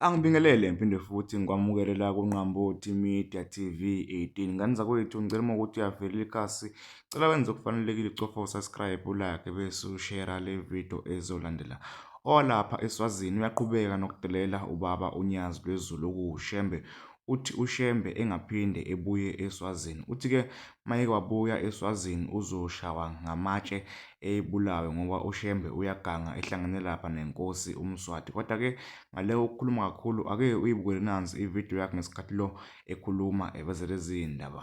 Angibingelele ngiphinde futhi ngikwamukelela kuNqambothi Media TV 18 ngane zakwethu ngicela uma ukuthi uyavelela ikhasi cela wenze okufanelekile ucofa usubscribe ulake bese ushera le video ezolandela owalapha eswazini uyaqhubeka nokudelela ubaba unyazi lwezulu kushembe uthi uShembe engaphinde ebuye eSwazini. Uthi-ke uma eke wabuya eSwazini uzoshawa ngamatshe ebulawe ngoba uShembe uyaganga ehlangene lapha nenkosi uMswati. Kodwa-ke ngale ukukhuluma kakhulu ake uyibukele nansi ividiyo yakhe ngesikhathi lo ekhuluma eveze lezi ndaba.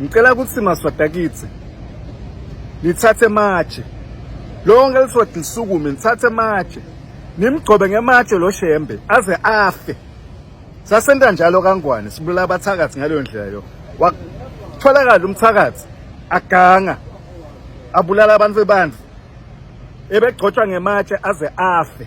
ngicela ukuthi maswadakitsi nithathe matshe lonke liswadi lisukume nithathe matshe nimgcobe ngematshe lo shembe aze afe sasenta njalo kangwane sibulala abathakathi ngaleyo ndlela yo watholakala umthakathi aganga abulala abantu bebandla ebegcotshwa ngematshe aze afe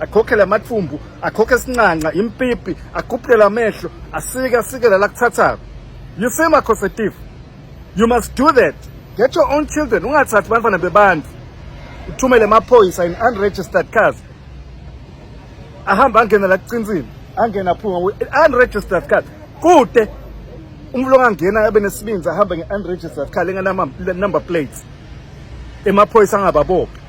akhokhele amathumbu akhokhe sincanca impipi agubhele amehlo asike asike lala kuthathako you see my cosetifu you must do that get your own children ungathathi bantwana bebantu uthumele amaphoyisa in unregistered cars ahamba angena la kucinsini angena aphuma unregistered cars kude umuntu ongangena abe nesibinzi ahambe nge-unregistered car lenganama-number plates emaphoyisa angababophi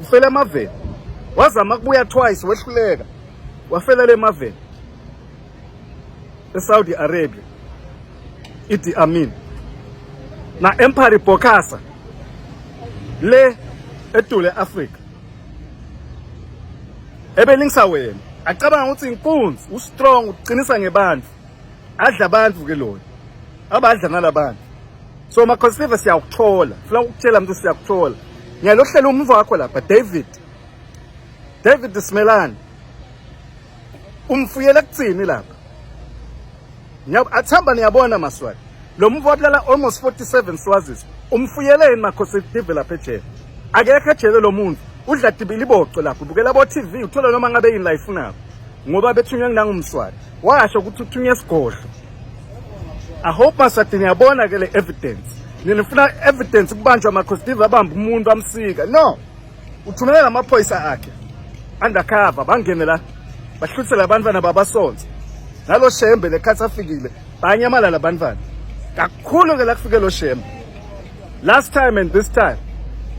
ufela emaveni wazama kubuya twice wehluleka wafela le maveni eSaudi Arabia Idi Amin na Empire Bokassa le etule Africa ebelingisawena acabanga ukuthi inkunzi ustrong uqinisa ngebandla adla abantu ke lona abadla nalabantu so makhosiliva siyakuthola funa ukutshela mntu siyakuthola ngiyalohlela umva wakho lapha david david simelane umfuyela kuthini lapha athamba niyabona maswati lo mva wabulala almost 47 swazis umfuyeleni makhosiliva lapha ejele akekho ejele lo muntu udla dibili iboco lapho ubukela bo-tv uthola noma ngabe yini la ifunako ngoba bethunywe ngilangumswati washo ukuthi uthunywe esigodlo i hope masade niyabona ke le evidence ninifuna evidence kubanjwa amakhostive abamba umuntu amsika no uthumelela amaphoyisa akhe undercover bangene la bahluthele abantwana babasonze nalo shembe lekhathi afikile banyamalala abantwana kakhulu ke la kufike lo shembe last time and this time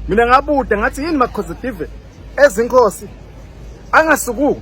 mina ngabude ngathi yini makhostive ezinkosi angasukuki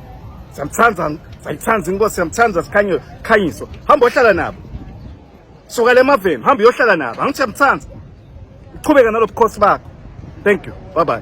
Siyamthanda sayithanda inkosi siyamthanda sikhanyo khanyiso. Hamba ohlala nabo. Suka le maveni hamba uyohlala nabo. Angithi siyamthanda. Uqhubeka nalobukhosi bakho. Thank you. Bye bye.